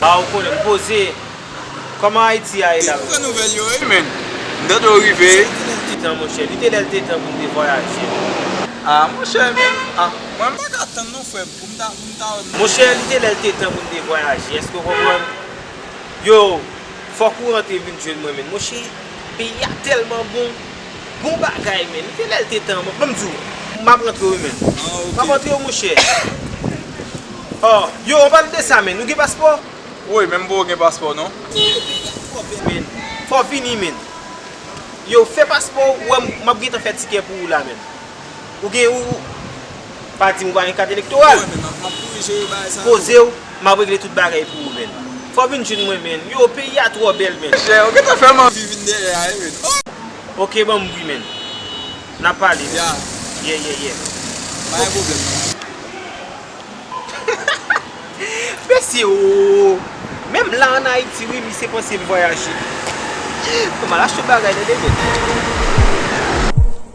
Ah ou konnen m poze. Koman Ayiti a ye la menm? Kijan monchè? Li te lè l te tan pou m te vwayaje menm. Ah monchè men ah. Mwen m pa ka tann non frè m pou m ta pou m ta wè m. Monchè li te lè l te tan pou m te vwayaje èske ou konprann? Yow fòk ou rantre vin jwenn mwen menn monchè peyi a tèlman bon. Bon bagay menn. Li te lèl te tan mwen. Banm diw. Map rantre wi menn. Map antre wi monchè. Aww. Yo an palan de sa menn. Ou gen paspò? Woy menm boo gen paspò non. Menn ou deja twò vle menn. Fò vini menn. Yo fè paspò ou wè map gentan fè tikè pou ou la menn. Ou gen ou pa dim ou pa gen kat elektoral. Pozew map regle tout bagay pou ou menn. Fò vin jwenn mwen menn. Yoo peyi a twò bèl menn. Ou gentan fèm anvi vin dèyè a wi menn oh. Ok banm bri menn. Nap pale menn. Yeah yeah yeah. Pa gen pwoblèm nan. Mesye ooh. Menm la an Ayiti wi misye panse m vwayaje. Mal achte bagay nan demen.